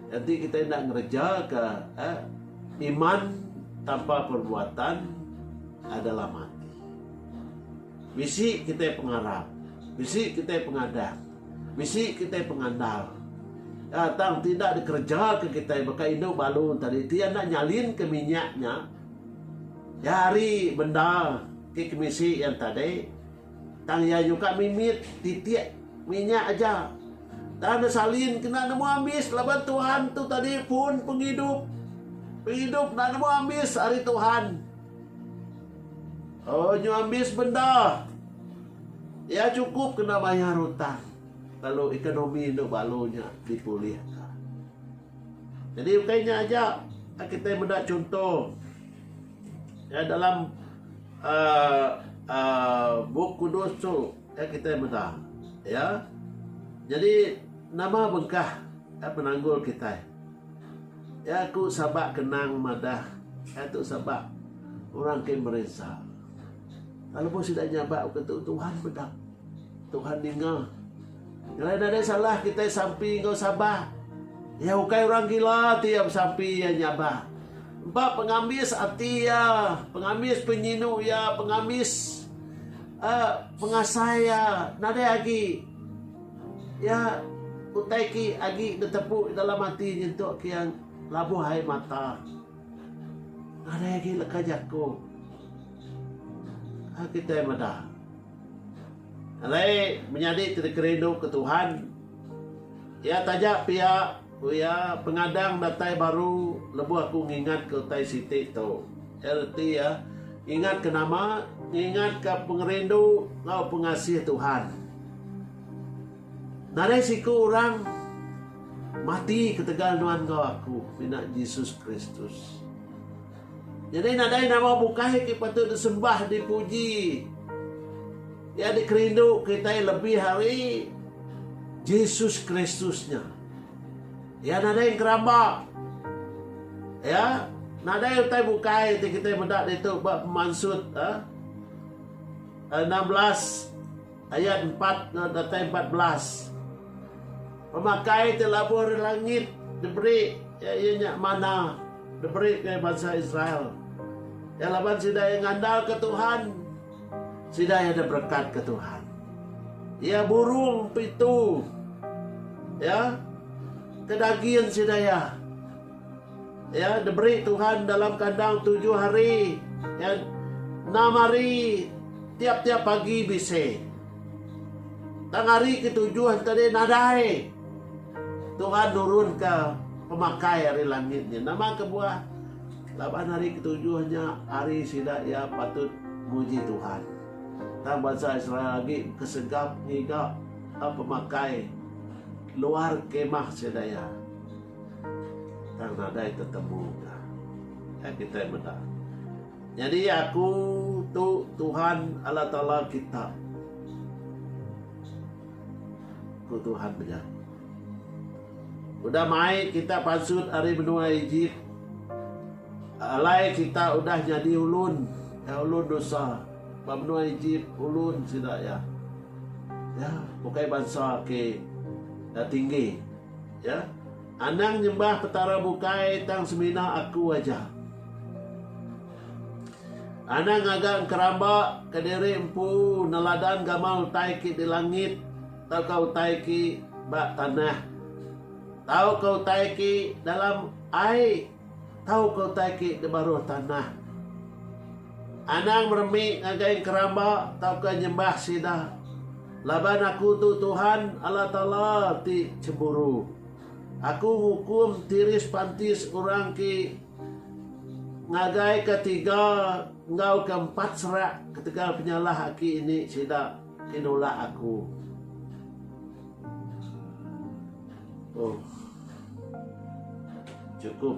Enti kita enda ngereja ka iman tanpa perbuatan adalah mati. Bisi kita pengarap, bisi kita pengadah, bisi kita pengandal. Ya, tang tidak dikereja ke kita baka indu balu tadi ti anda nyalin ke minyaknya. Ya hari benda ke kemisi yang tadi Tang iya nyuka mimit titik minyak aja. Tang enda salin kena nemu ambis laban Tuhan tu tadi pun pengidup. Pengidup enda nemu ambis ari Tuhan. Onyo ambis bendar. Iya cukup kena mayar utang lalu ekonomi endo balu nya dipulihka. Jadi ukai nya aja kitai meda chunto dalam Aa aa Bup Kudus tu ka kitai meda iya. Nyadi nama bengkah ka penanggul kitai? Iya ku Sabak Kenang madah iya tu sabak orang ke merinsa. Tang lebuh sida nyabak ke tu Tuhan meda. Tuhan ninga. Nyelai nadai salah kitai sampi enggau Sabah. Iya ukai orang gila ti iya besampi iya nyabah. Empa pengambis ati iya, pengambis penyinu iya, pengambis uhh pengasai iya nadai agi iya utai ki agi netepu dalam ati nyentuk ke iya labuh ai mata. Nadai agi leka jaku. Kitai meda. Alai menyadi ti dikerinduka Tuhan. Iya taja pia, ku iya, pengadang datai baru lebuh aku ngingatka utai siti tu. Iya reti iya ngingatka nama? Ngingatka pengerindu enggau pengasih Tuhan. Nadai siku orang mati ketegal nuan enggau aku, mina Jesus Kristus. Nyadi nadai nama bukai ti patut disembah dipuji. Iya dikerindu kitai lebih ari Jesus Kristus nya. Iya nadai ngeramba. Iya nadai utai bukai ti kitai meda ditu ba Pemansut enam belas. Ayat empat enggau datai empat belas. Pemakai ti labuh ari langit diberi iya iya nya manna diberi ngagai bansa Israel. Iya laban sida iya ngandalka Tuhan, sida iya diberekatka Tuhan. Iya burung pitu iya ke dagin sida iya Iya diberi Tuhan dalam kandang tujuh hari, iya enam hari tiap-tiap pagi bisi. Tang hari ketujuh enti deh nadai, Tuhan nurunka pemakai ari langit nya. Nama kebuah? Laban hari ketujuh nya hari sida iya patut muji Tuhan. Tang bansa Israel agi kesegap ngiga pemakai luar kemah sida iya. Tang nadai tetemu ka. Ai kitai meda. Nyadi aku tu Tuhan Allah Taala kita, ku Tuhan penyaku. Udah mai kita pansut ari menua Ejip, alai kita udah nyadi ulun, iya ulun nusa ba menua Ejip, ulun sida iya. Iya bukai bansa ke tinggi. Ya, anang nyembah Petara bukai tang semina aku aja. Anang ngaga engkeramba kediri empu neladan gamal utai ke di langit tauka utai ke ba tanah tauka utai ke dalam ai. Tauka utai ke di baruh tanah. Anang meremi ngagai enkeramba tauka nyembah sida, laban Aku tu Tuhan, Allah Taala ti chemburu. Aku ngukum tiris pantis orang ke ngagai ke tiga enggau ke empat serak ketegal penyalah aki ini sida. Ti nulak aku. Oh. Cukup.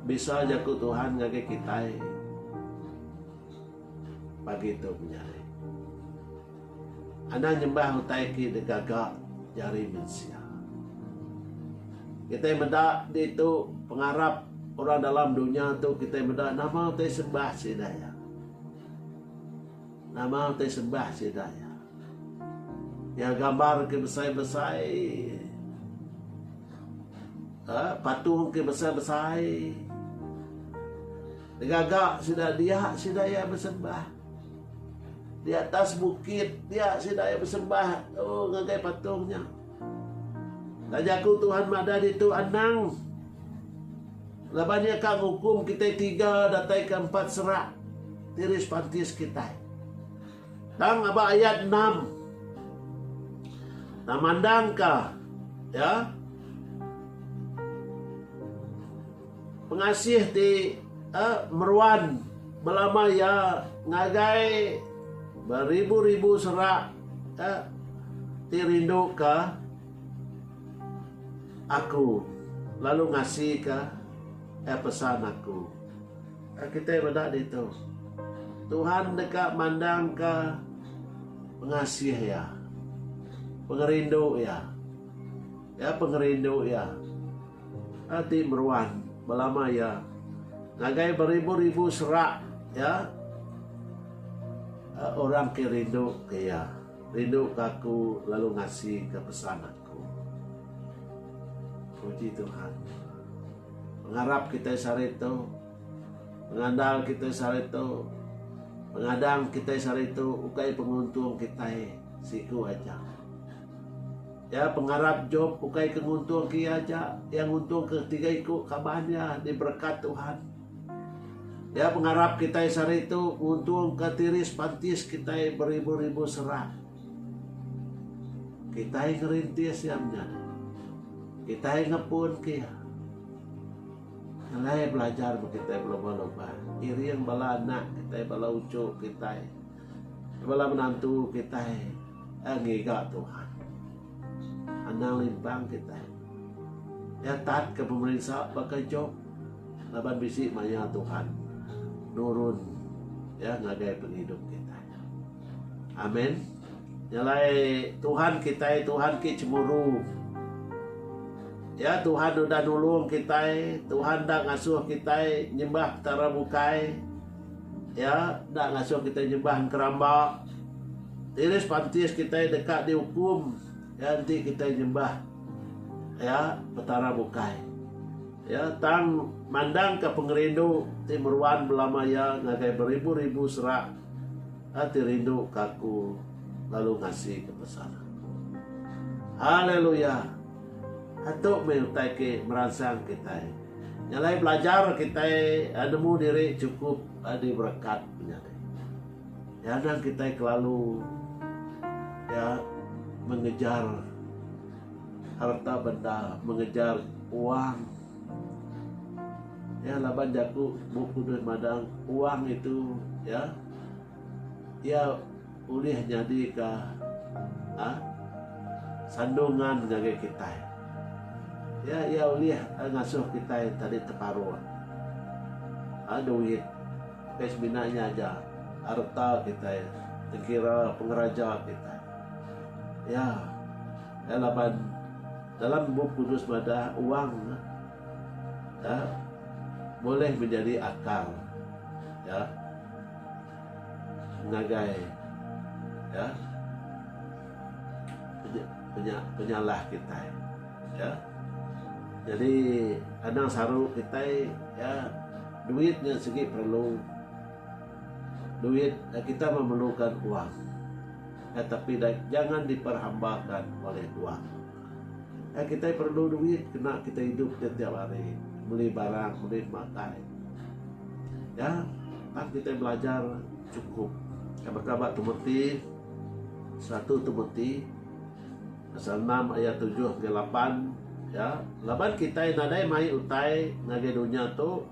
Bisa jaku Tuhan ngagai kitai. Pagi tu menyadi. Anang nyembah utai ti digaga jari mensia. Kitai meda ditu pengarap orang dalam dunya tu kitai meda nama utai sembah sida iya. Nama utai sembah sida iya? Iya gambar ke besai-besai, uhh patung ke besai-besai. Ngaga sida dia sida iya besembah. Di atas bukit dia sida iya besembah uhh ngagai patung nya. Enda jaku Tuhan madah ditu anang. Laban iya ka ngukum kitai tiga datai ke empat serak ti rispantis kitai. Tang aba ayat enam. Tang mandang ka ya pengasih ti eh, meruan belama iya ngagai beribu-ribu serak eh, ti rindu ka Aku lalu ngasika iya pesan aku. Ka kitai meda ditu. Tuhan deka mandangka pengasih iya, pengerindu iya. Iya pengerindu iya ti meruan belama iya ngagai beribu-ribu serak iya orang ke rindu ke iya. Rinduka aku lalu ngasika pesan aku. Puji Tuhan. Pengarap kitai sehari tu, pengandal kitai sehari tu, pengadang kitai sehari tu ukai penguntung kitai siku aja. Ya pengarap Job ukai ke nguntungka iya aja, iya nguntungka tiga iku kaban iya diberekat Tuhan. Nya pengarap kitai sehari tu nguntungka tiris pantis kitai beribu-ribu serang. Kitai ngerintis iya menya. Kitai ngepunka iya. Alai belajar ba kitai belumba-lumba. Iring bala anak kitai, bala uchu kitai, bala menantu kitai ngiga Tuhan. Anang limpang kitai. Iya tatka pemerinsa baka Jop. Laban bisi maya Tuhan nurun ya ngagai pengidup kitai. Amin. Nyalai Tuhan kitai, Tuhan ke cemburu. Ya Tuhan udah nulung kitai, Tuhan dah ngasuh kitai nyembah petara bukai. Ya, dah ngasuh kitai nyembah keramba. Tiris pantis kitai deka diukum ya enti kitai nyembah ya petara bukai. Iya tang mandangka pengerindu ti meruan belama iya ngagai beribu-ribu serak ti rindu ke aku lalu ngasika pesan aku. Haleluya! Atu meh utai ke meransang kitai. Nya alai belajar kitai nemu diri chukup diberekat menyadi. Iya anang kitai kelalu iya mengejar. Harta benda mengejar wang. Ya laban jaku Bup Kudus madang wang itu ya ia ulih nyadika ha sandungan ngagai kitai. Ya ia ulih ngasuh kitai tadi teparuh ha duit. Ukai semina nya aja arta kitai dikira pengeraja kitai. Ya. Ya laban dalam Bup Kudus madah wang ya boleh menjadi akal ya ngagai ya penyalah kitai. Iya. Nyadi anang saru kitai iya duit nya sigi perlu. Duit kita memerlukan wang. Ai tapi jangan diperhambakan oleh wang. Ai kitai perlu duit kena kitai idup ne tiap hari. Meli barang, meli makai. Iya. Tang kitai belajar chukup. Baka ba Timoti satu Timoti. Pasal enam ayat tujuh enggau lapan, ya, laban kitai nadai mai utai ngagai dunya tu,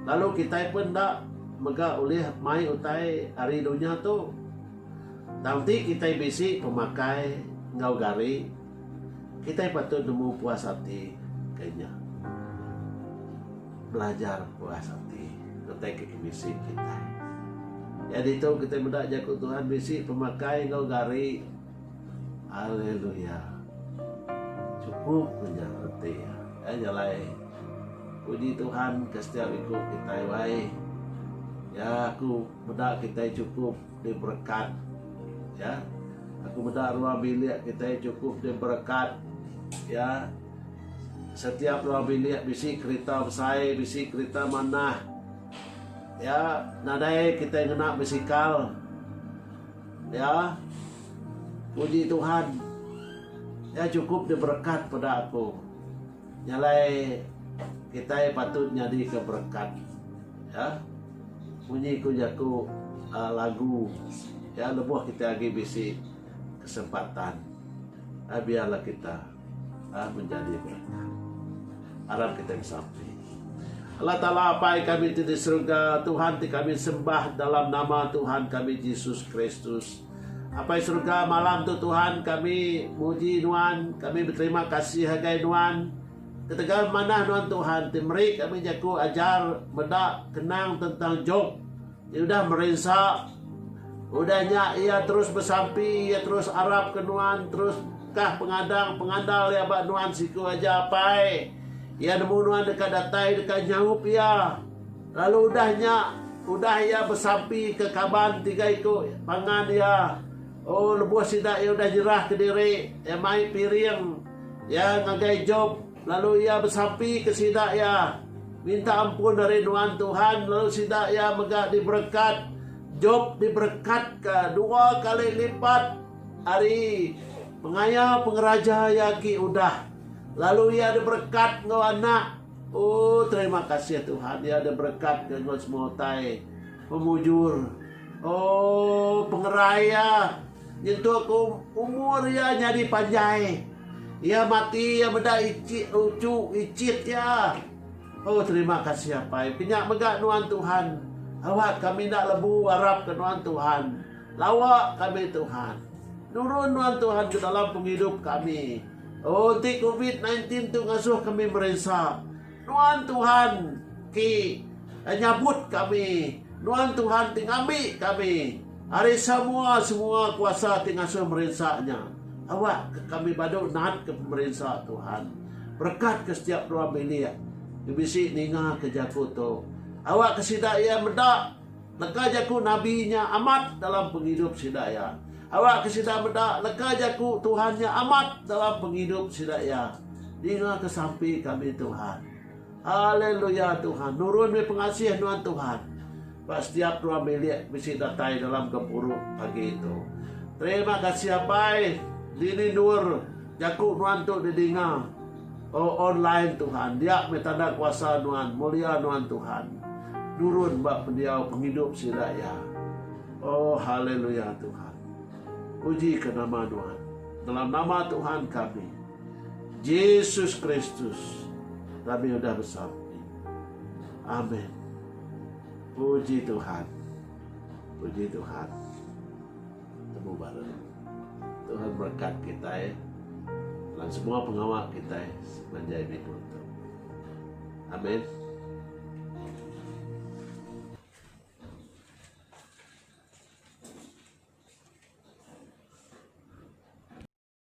lalu kitai pun enda mega ulih mai utai ari dunya tu. Tang ti kitai bisi pemakai enggau gari, kitai patut nemu puas ati ke nya. Belajar puas ati utai ke bisi kitai. Iya ditu kitai meda jaku Tuhan bisi pemakai enggau gari. Haleluya. Chukup ku nya reti iya. Ai nya alai. Puji Tuhan ke setiap iku kitai wai. Ya aku meda kitai chukup diberekat. Ya. Aku meda ruang bilik kitai chukup diberekat. Ya. Setiap ruang bilik bisi kerita besai, bisi kerita manah. Ya, nadai kitai ngena bisikal. Ya, puji Tuhan. Nya chukup nya berekat peda aku. Nya alai kitai patut nyadika berekat. Ya. Munyi ku jaku uhh lagu ya lebuh kitai agi bisi kesempatan uhh biarlah kita. Aa menjadi beratang. Arap kitai besapi. Allah Taala Apai kami ti di serega, Tuhan ti kami sembah dalam nama Tuhan kami Jesus Kristus. Apai serega malam tu Tuhan kami muji nuan, kami beterima kasih agai nuan. Ketegal manah nuan Tuhan ti meri kami jaku ajar meda kenang tentang Job. Iya udah merinsa. Udah nya iya terus besampi, iya terus arap ke nuan, terus kah pengadang pengandal iya ba nuan siku aja apai. Iya nemu nuan deka datai deka nyaup iya. Lalu udah nya, udah iya besampi ke kaban tiga iku pangan iya. Oh, lebuh sida iya udah nyerah kediri, iya mai piring. Iya ngagai Job. Lalu iya besapi ke sida iya, Minta ampun ari nuan Tuhan lalu sida iya mega diberekat. Jop diberekatka dua kali lipat ari pengaya pengeraja iya agi udah. Lalu iya diberekat enggau anak. Oh, terima kasih Tuhan, iya diberekatka enggau semua utai pemujur. Oh, pengerai iya Nyentuk ke umur iya nyadi panjai. Iya mati iya meda ichit uchu ichit iya. Oh terima kasih apai penya mega nuan Tuhan awak kami enda lebu arap ke nuan Tuhan lawa kami Tuhan nurun nuan Tuhan ke dalam pengidup kami oh enti covid 19 tu ngasoh kami merinsa. Nuan Tuhan ti nyabut kami, Nuan Tuhan ti ngambi kami ari samoa semoa kuasa ti ngasuh merinsa nya. Awak ka kami badu nat ka pemerinsa Tuhan. Berekat ka setiap ruang bilik nge bisi ninga ka jaku tu. Awak ka sida ia meda. Leka jaku nabi nya amat dalam pengidup sida iya. Awakka sida meda leka jaku Tuhan nya amat dalam pengidup sida iya. Dingaka sampi kami Tuhan. Haleluya Tuhan nurun meh pengasih nuan Tuhan. Ba setiap ruang bilik bisi datai dalam gempuru pagi tu. Terima kasih Apai dini endur jaku nuan tu didinga. O online Tuhan, dia meh tanda kuasa Nuan, mulia Nuan Tuhan, nurun ba pendiau pengidup sida iya. O Haleluya Tuhan. Pujika nama Nuan. Dalam nama Tuhan kami, Jesus Kristus, kami udah besampi. Amen. Puji Tuhan. Puji Tuhan. Temu baru. Tuhan berekat kitai dalam semua pengawa kitai sepanjai minggu tu. Amen.